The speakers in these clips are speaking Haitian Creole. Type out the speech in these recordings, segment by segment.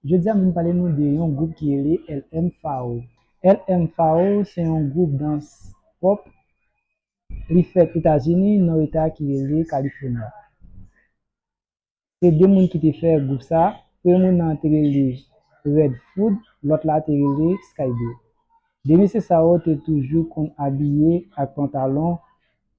Jodi a mwen pale nou de yon gwoup ki rele LMFAO. LMFAO se yon gwoup dans pop li fèt Etazini nan eta ki rele California. Se 2 moun ki te fè gwoup sa, premye moun nan te rele Red Food lòt la te rele Skyy Blue. 2 mesye sa yo te toujou konn abiye ak pantalon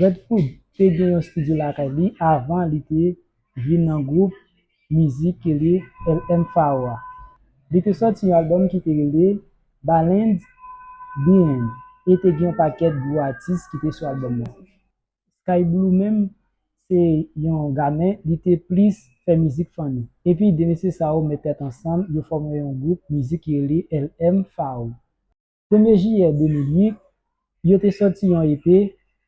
Redfood te gen yon studio lakay li avan li te vin nan gwoup mizik ki rele LM Pharoah a. Li te sòti yon albòm ki te rele Balend Byn e te gen yon pakèt gwo atis ki te sou albòm nan. Sky Blue menm se yon ga men li te plis fè mizik funny. Epi 2 mesye sa yo met tèt ansanm yo fòme yon gwoup mizik ki rele LM Pharoah. Premye jiyè 2008, yo te sòti yon EP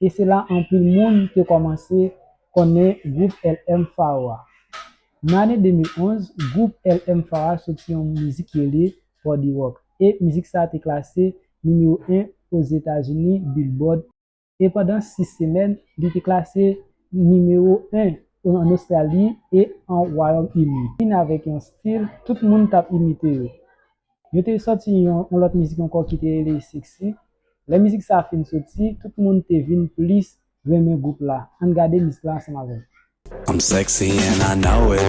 e se la anpil moun te kòmanse konnen gwoup LM Pharoah a. Nan ane 2011, gwoup LM Pharoah sòti yon mizik ki rele Body Rock e mizik sa te klase nimewo 1 Ozetazini Billboard. e pandan 6 semèn li te klase nimewo 1 an Ostrali e an Wayòm Ini. Vin avèk yon stil tout moun tap imite yo. Yo te sòti yon lòt mizik ankò ki te rele Sexy. Lè mizik sa fin soti, tout moun te vin plis renmen gwoup la. Ann gade mizik la ansanm avè m. I'm sexy and I know it.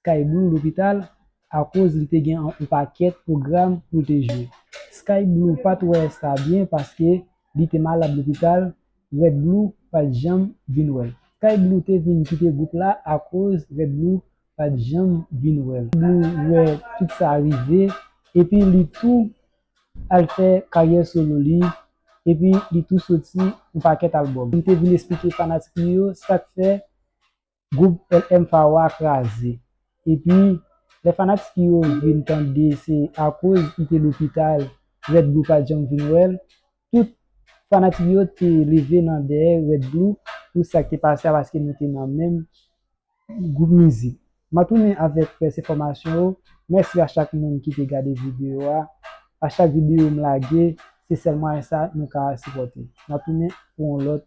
Sky Blue lopital akoz li te gen yon pakèt pwogram pou l te jwe. Sky Blue pa t wè sa byen paske li te malad lopital, Red Blue pa t janm vin wè l. Sky Blue te vin kite gwoup la akoz Red Blue pa t janm vin wè l. Sky Blue wè tout sa rive epi li tou al fè karyè solo li epi li tou soti yon pakèt albòm. Li te vin esplike fanatik li yo sa k fè Group LM Pharoah a kraze. Epi lè fanatik yo vin tande se akoz li te lopital Red Blue pat janm vin wè l, tout fanatik yo te leve nan dèyè Red Blue pou sa k te pase a paske nou te nan menm group mizik. M ap tounen avèk rès enfòmasyon yo. Mèsi a chak moun ki te gade videyo a. A chak videyo m lage se sèl mwayen sa nou ka sipòte. N ap tounen pou yon lòt.